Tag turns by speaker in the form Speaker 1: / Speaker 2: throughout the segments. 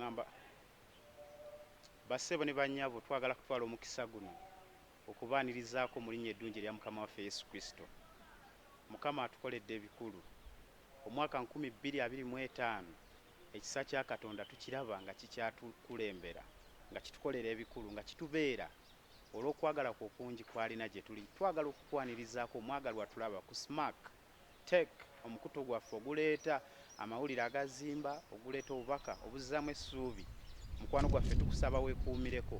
Speaker 1: ngamba bassebo ne bannyabo twagala kutwala omukisa guno okubaanirizaako mu linnya eddungi erya Mukama waffe Yesu Kristo. Mukama atukoledde ebikulu. Omwaka nkumi bbiri abiri mu etaano ekisa kya Katonda tukiraba nga kikyatukulembera, nga kitukolera ebikulu, nga kitubeera olw'okwagala kwe okungi kw'alina gye tuli. Twagala okukwanirizaako omwagalwa Tulaba ku Smac. Tech, Omukutu gwaffe oguleeta amawulire agazimba, oguleeta obubaka obuzzaamu essuubi. Mukwano gwaffe tukusaba wekuumireko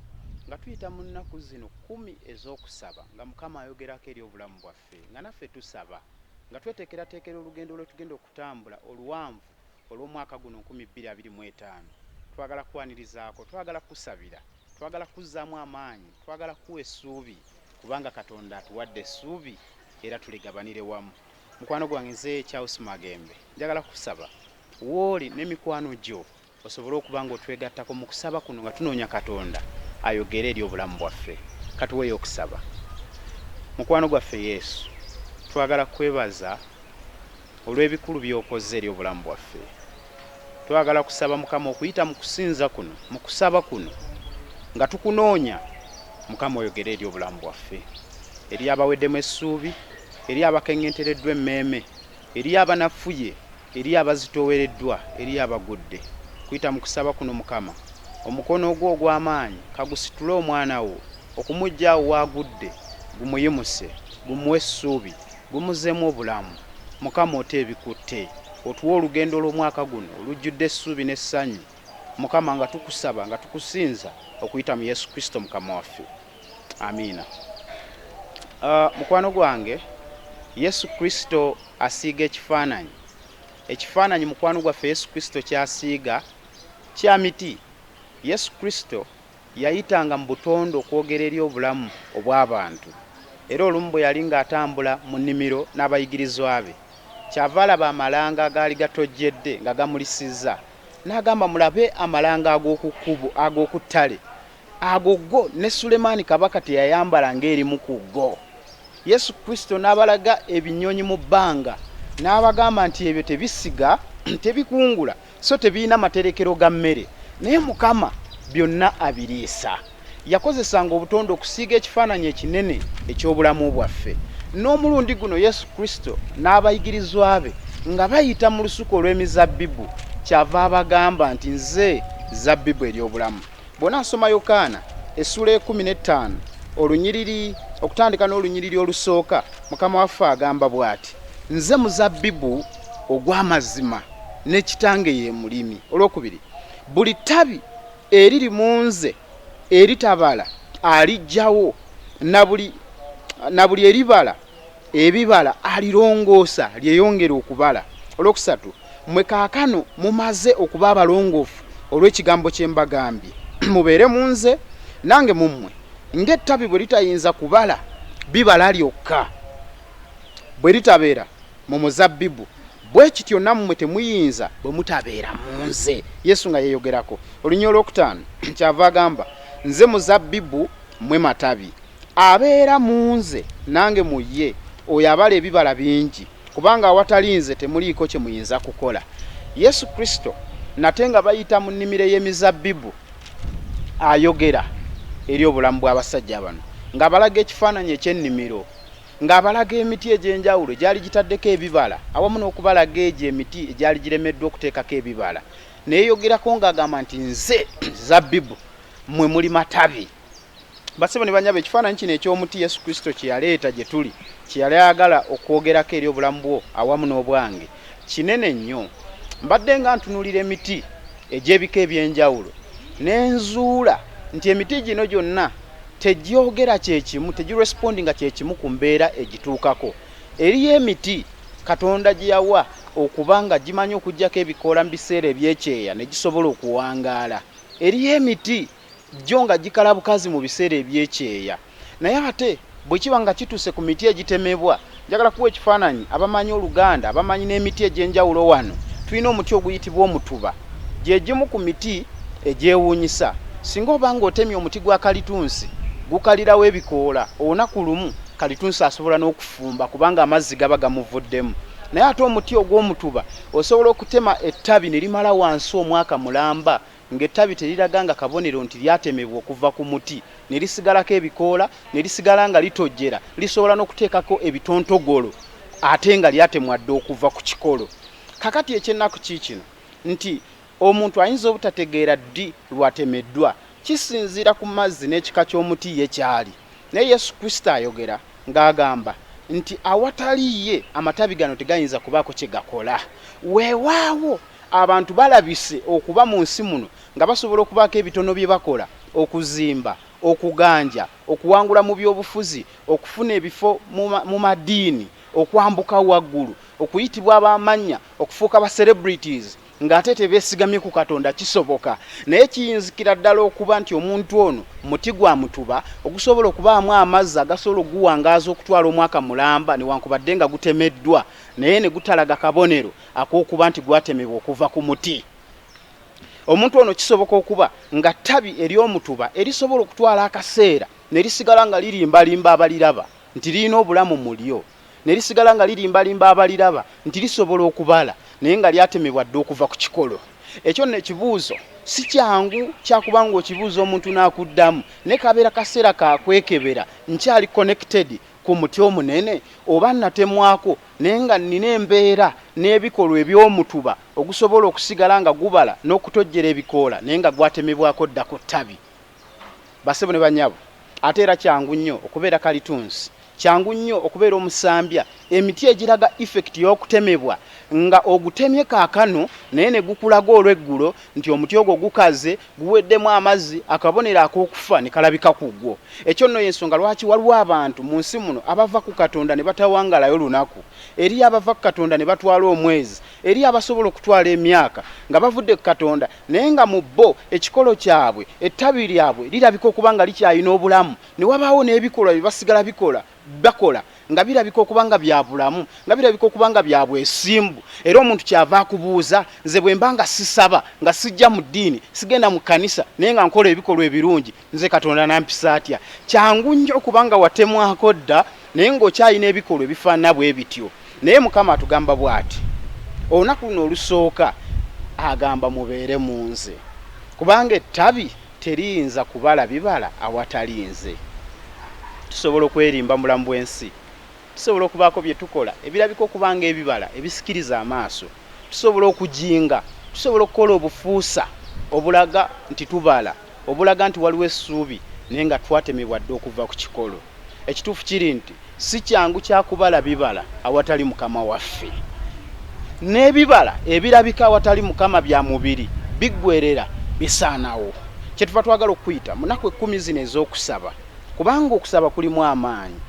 Speaker 1: nga tuyita mu nnaku zino kkumi ez'okusaba nga Mukama ayogerako eri obulamu bwaffe nga naffe tusaba nga tweteekerateekera olugendo lwetugenda okutambula oluwanvu olw'omwaka guno nkumi bbiri abiri mu etaano, twagala kukwanirizaako, twagala kukusabira, twagala kukuzzaamu amaanyi, twagala kukuwa essuubi kubanga Katonda atuwadde essuubi era tuligabanire wamu. Mukwano gwange nze Charles Magembe njagala kukusaba w'oli ne mikwano gyo osobole okuba ng'otwegattako mu kusaba kuno nga tunoonya Katonda ayogere eri obulamu bwaffe. Katuweeyo okusaba. Mukwano gwaffe Yesu, twagala kukwebaza Olw'ebikulu by'okoze eri obulamu bwaffe, twagala kusaba Mukama okuyita mu kusinza kuno, mu kusaba kuno, nga tukunoonya, Mukama oyogere eri obulamu bwaffe, eri abaweddemu essuubi, eri abakeŋŋentereddwa emmeeme, eri abanafuye, eri abazitoowereddwa, eri abagudde. Kuyita mu kusaba kuno, Mukama, omukono gwo ogw'amaanyi ka gusitule omwana wo, okumuggya awo w'agudde, gumuyimuse, gumuwe essuubi. Gumuzemu obulamu mukama ote ebikutte otuwe olugendo olwomwaka guno olujjudde essuubi ne ssanyu mukama nga tukusaba nga tukusinza okuyita mu yesu kristo mukama waffe amiina uh, mukwano gwange yesu kristo asiiga ekifaananyi ekifaananyi mukwano gwaffe yesu kristo kyasiiga kya miti yesu kristo Yayitanga mu butonde okwogera eri obulamu obw'abantu, era olumu bwe yali ng'atambula mu nnimiro n'abayigirizwa be, kyava alaba amalanga agaali gatojjedde nga gamulisizza, n'agamba, Mulabe amalanga ag'oku kkubo, ag'oku ttale! Ago go, ne Sulemaani Kabaka teyayambala ng'erimu ku go. Yesu Kristo n'abalaga ebinyonyi mu bbanga, n'abagamba nti ebyo tebisiga, tebikungula, so tebirina materekero ga mmere naye mukama byonna abiriisa yakozesanga obutonde okusiiga ekifaananyi ekinene eky'obulamu bwaffe n'omulundi guno yesu kristo n'abayigirizwa be nga bayita mu lusuku olw'emizabbibu kyava abagamba nti nze zabbibu ery'obulamu Bw'onaasoma Yokaana essuula ey'ekkumi n'ettaano olunyiriri okutandika n'olunyiriri olusooka, Mukama waffe agamba bw'ati. Nze muzabbibu ogw'amazima, ne Kitange ye mulimi. Olwokubiri, Buli ttabi eriri mu nze eritabala aliggyawo, na buli, na buli eribala ebibala alirongoosa lyeyongere okubala. Olwokusatu, mwe kaakano mumaze okuba abalongoofu olw'ekigambo kye mbagambye, mubeere mu nze, nange mu mmwe. Ng'ettabi bwe litayinza kubala bibala lyokka bwe litabeera mu muzabbibu, bwe kityo nammwe temuyinza bwe mutabeera mu nze. Yesu nga yeeyogerako. Oluny. Olwokutaano, Kyava agamba, Nze muzabbibu, mmwe matabi. Abeera mu Nze, Nange mu Ye, oyo abala ebibala bingi, kubanga awatali Nze temuliiko kye muyinza kukola. Yesu Kristo, nate nga bayita mu nnimiro ey'emizabbibu, ayogera eri obulamu bw'abasajja bano, nga abalaga ekifaananyi eky'ennimiro, nga abalaga emiti egy'enjawulo egyali gitaddeko ebibala, awamu n'okubalaga egyo emiti egyali giremeddwa okuteekako ebibala. Neyeyogerako nga agamba nti, Nze zabbibu, mmwe muli matabi. Basebo ne banyabo, ekifaananyi kino eky'omuti Yesu Kristo kye yaleeta gye tuli, kye yali ayagala okwogerako eri obulamu bwo awamu n'obwange, kinene nnyo. Mbadde nga ntunuulira emiti egy'ebika eby'enjawulo, ne nzuula nti emiti gino gyonna tegyogera kye kimu, tegirespondinga kye kimu ku mbeera egituukako. Eriyo emiti Katonda gye yawa okuba nga gimanyi okuggyako ebikoola mu biseera eby'ekyeya ne gisobola okuwangaala. Eriyo emiti. Gyo nga gikala bukazi mu biseera eby'ekyeya naye ate bwe kiba nga kituuse ku miti egitemebwa, njagala kukuwa ekifaananyi abamanyi Oluganda bamanyi n'emiti egy'enjawulo wano tulina omuti oguyitibwa omutuba gye gimu ku miti egyewuunyisa singa oba ng'otemye omuti gwa kalitunsi gukalirawo ebikoola olunaku lumu kalitunsi asobola n'okufumba kubanga amazzi gaba gamuvuddemu naye ate omuti ogw'omutuba osobola okutema ettabi ne limala wansi omwaka mulamba Ng'ettabi teriraganga kabonero nti lyatemebwa okuva ku muti ne lisigalako ebikoola, ne lisigala nga litojjera, lisobola n'okuteekako ebitontogolo ate nga lyatemwa dda okuva ku kikolo. Kaakati eky'ennaku kiikino nti, omuntu ayinza obutategeera ddi lw'atemeddwa. Kisinziira ku mazzi n'ekika ky'omuti ye ky'ali. Naye Yesu Kristo ayogera, ng'agamba nti, Awatali Ye, amatabi gano tegayinza kubaako kye gakola. Weewaawo. Abantu balabise okuba mu nsi muno nga basobola okubaako ebitono bye bakola, okuzimba, okuganja, okuwangula mu byobufuzi, okufuna ebifo mu madiini, okwambuka waggulu, okuyitibwa ab'amannya, okufuuka ba celebrities ng'ate tebeesigamye ku Katonda. Kisoboka, naye kiyinzikira ddala okuba nti omuntu ono muti gwa mutuba ogusobola okubaamu amazzi agasobola okuguwangaaza okutwala omwaka mulamba newankubadde nga gutemeddwa naye ne gutalaga kabonero Akokuba nti gwatemebwa okuva ku muti. Omuntu ono kisoboka okuba nga ttabi ery'omutuba erisobola okutwala akaseera ne lisigala nga lirimbalimba abaliraba nti lirina obulamu mu lyo, ne lisigala nga lirimbalimba abaliraba nti lisobola okubala, naye nga lyatemebwa dda okuva ku kikolo. Ekyo nno ekibuuzo si kyangu kya kuba ng'okibuuza omuntu n'akuddamu, naye kabeera kaseera ka kwekebera, nkyali connected ku muti omunene oba nnatemwako naye nga nnina embeera n'ebikolwa eby'omutuba ogusobola okusigala nga gubala n'okutojjera ebikoola naye nga gwatemebwako dda ku ttabi. Bassebo ne bannyabo, ate era kyangu nnyo okubeera kalitunsi, kyangu nnyo okubeera omusambya, emiti egiraga effect y'okutemebwa nga ogutemye kaakano naye ne gukulaga olw'eggulo nti omuti ogwo gukaze guweddemu amazzi, akabonero ak'okufa ne kalabika ku gwo. Ekyo nno y'ensonga lwaki waliwo abantu mu nsi muno abava ku Katonda ne batawangalayo lunaku. Eriyo abava ku Katonda ne batwala omwezi. Eriyo abasobola okutwala emyaka nga bavudde ku Katonda naye nga mu bo ekikolo kyabwe, ettabi lyabwe lirabika okuba nga likyalina obulamu, ne wabaawo n'ebikolwa bye basigala bikola. bakola nga birabika okuba nga bya bulamu, nga birabika okuba nga bya bwesimbu, era omuntu ky'ava akubuuza, nze bwe mba nga sisaba, nga sijja mu ddiini, sigenda mu kkanisa, naye nga nkola ebikolwa ebirungi, nze Katonda anampisa atya? Kyangu nnyo okuba nga watemwako dda, naye nga okyalina ebikolwa ebifaanana bwe bityo. Naye Mukama atugamba bw'ati, olunaku luno olusooka, agamba, Mubeere mu Nze, kubanga ettabi, Teriyinza kubala bibala awatali Nze. Tusobola okwerimba mu bulamu bw'ensi. Tusobola okubaako bye tukola ebirabika okuba ng'ebibala ebisikiriza amaaso. Tusobola okujinga. Tusobola okukola obufuusa obulaga nti tubala, obulaga nti waliwo essuubi, naye nga twatemebwa dda okuva ku kikolo. Ekituufu kiri nti si kyangu kya kubala bibala awatali Mukama waffe. N'ebibala ebirabika awatali Mukama bya mubiri, biggwerera, bisaanawo. Kyetuva twagala okukuyita mu naku ekkumi zino ez'okusaba, kubanga okusaba kulimu amaanyi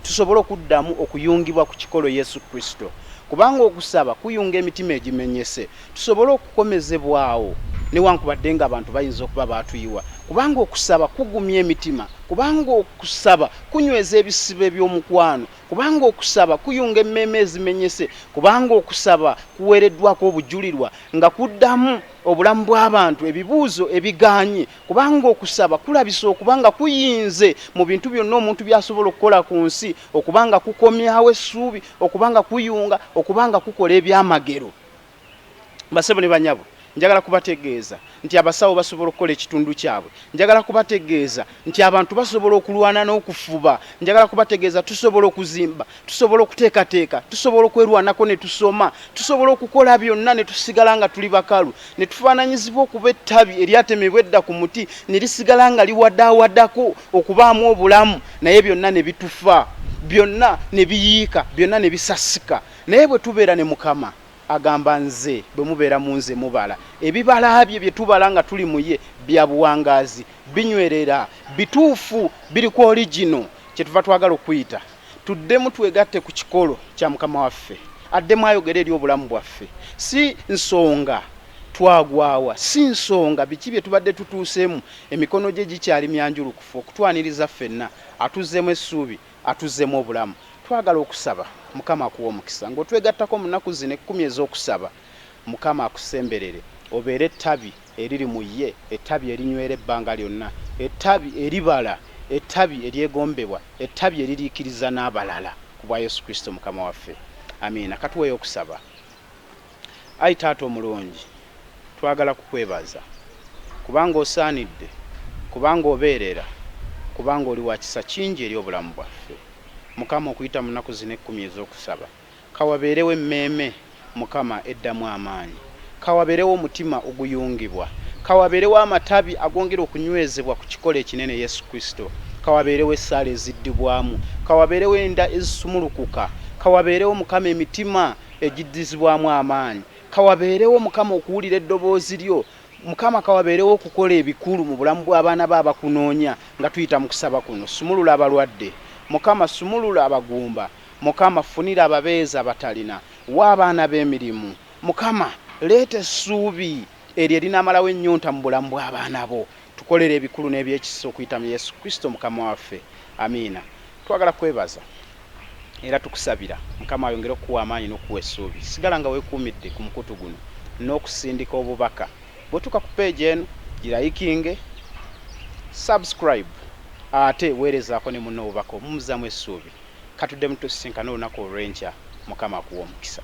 Speaker 1: tusobole okuddamu okuyungibwa ku kikolo Yesu Kristo, kubanga okusaba kuyunga emitima egimenyese. tusobole okukomezebwa awo newankubadde nga abantu bayinza okuba baatuyiwa, kubanga okusaba kugumya emitima, kubanga okusaba kunyweza ebisibo eby'omukwano, kubanga okusaba kuyunga emmeeme ezimenyese, kubanga okusaba kuweereddwako obujulirwa nga kuddamu obulamu bw'abantu ebibuuzo ebigaanye, kubanga okusaba kulabisa okuba nga kuyinze mu bintu byonna omuntu by'asobola okukola ku nsi, okuba nga kukomyawo essuubi, okuba nga kuyunga, okuba nga kukola ebyamagero. Basebo ne banyabo, njagala kubategeeza nti abasawo basobola okukola ekitundu kyabwe. Njagala kubategeeza nti abantu basobola okulwana n'okufuba. Njagala kubategeeza tusobola okuzimba, tusobola okuteekateeka, tusobola okwerwanako ne tusoma, tusobola okukola byonna ne tusigala nga tuli bakalu, ne tufaananyizibwa okuba ettabi eryatemebwa edda ku muti ne lisigala nga liwadaawadako okubaamu obulamu naye byonna ne bitufa, byonna ne biyiika, byonna ne bisasika. Naye bwe tubeera ne Mukama, agamba, Nze, bwe mubeera mu Nze, mubala. Ebibala bye bye tubala nga tuli mu Ye, bya buwangaazi, binywerera, bituufu, biri ku oligino. Kyetuva twagala okuyita. Tuddemu twegatte ku kikolo kya Mukama waffe. Addemu ayogere eri obulamu bwaffe. Si nsonga twagwa wa, si nsonga biki bye tubadde tutuuseemu, emikono Gye gikyali myanjulukufu okutwaniriza ffenna. Atuzzeemu essuubi. Atuzzemu obulamu. Twagala okusaba. Mukama akuwe omukisa nga otwegattako mu naku zino ekkumi ez'okusaba. Mukama akusemberere obeere ettabi eriri mu ye, ettabi erinywera ebbanga lyonna, ettabi eribala, ettabi eryegombebwa, ettabi eririikiriza n'abalala ku bwa Yesu Kristo Mukama waffe. Amiina. Katuweeyo okusaba. Ayi Taata omulungi, twagala kukwebaza, kubanga osaanidde, kubanga obeerera, kubanga oli wa kisa kingi eri obulamu bwaffe. Mukama, okuyita mu nnaku zino ekkumi ez'okusaba, ka wabeerewo emmeeme, Mukama, eddamu amaanyi. Ka wabeerewo omutima oguyungibwa. Ka wabeerewo amatabi agongera okunywezebwa ku kikolo ekinene, Yesu Kristo. Ka wabeerewo essaala eziddibwamu. Ka wabeerewo enda ezisumulukuka. Ka wabeerewo, Mukama, emitima egiddizibwamu amaanyi. Kawabeerewo Mukama okuwulira eddoboozi lyo. Mukama kawabeerewo okukola ebikulu mu bulamu bw'abaana bo abakunoonya nga tuyita mu kusaba kuno. Sumulula abalwadde Mukama, sumulula abagumba Mukama, funira ababeezi abatalina, wa abaana bo emirimu Mukama, leeta essuubi eryo erinamalawo ennyonta mu bulamu bw'abaana bo. Tukolere ebikulu n'ebyekisa okuyita mu Yesu Kristo Mukama waffe. Amiina. Twagala kwebaza era tukusabira Mukama ayongere okukuwa amaanyi n'okukuwa essuubi. Sigala nga weekuumidde ku mukutu guno n'okusindika obubaka. Bw'otuuka ku peegi eno, girayikinge, subscribe, ate weerezaako ne munno obubaka obumuzzaamu essuubi. Katuddemu tusisinkane olunaku olw'enkya. Mukama akuwe omukisa.